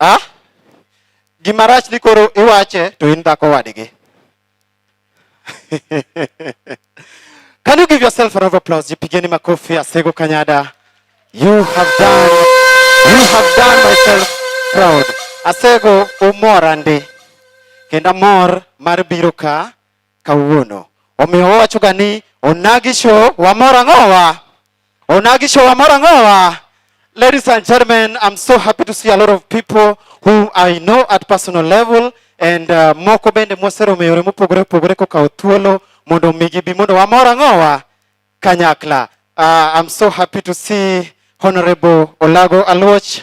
Ah? Gima rach ni koro iwache to in dhako wadgi. Can you give yourself a round of applause? Jipigeni makofi Asego Kanyada. You have done, you have done myself proud. Asego umora ndi. Kenda mor mar biro ka kawuono. Omiyo wawachoga ni onagi show wamor ang'owa. Onagi show wamor ang'owa. Ladies and gentlemen, I'm so happy to see a lot of people who I know at personal level and uh, moko bende mwaseromo e yore mopogore opogore kokawo thuolo mondo omi gibi mondo wamor ang'owa kanyakla. Uh, I'm so happy to see Honorable Olago Aluoch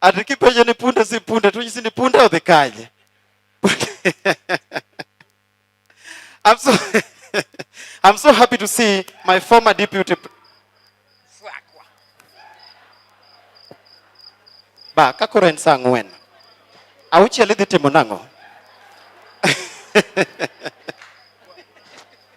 Ati kipenjo ni punde si punde to nyisi ni punde odhi kanye? I'm so I'm so happy to see my former deputy ba kakoro en saa ang'wen auchiel idhi timo nang'o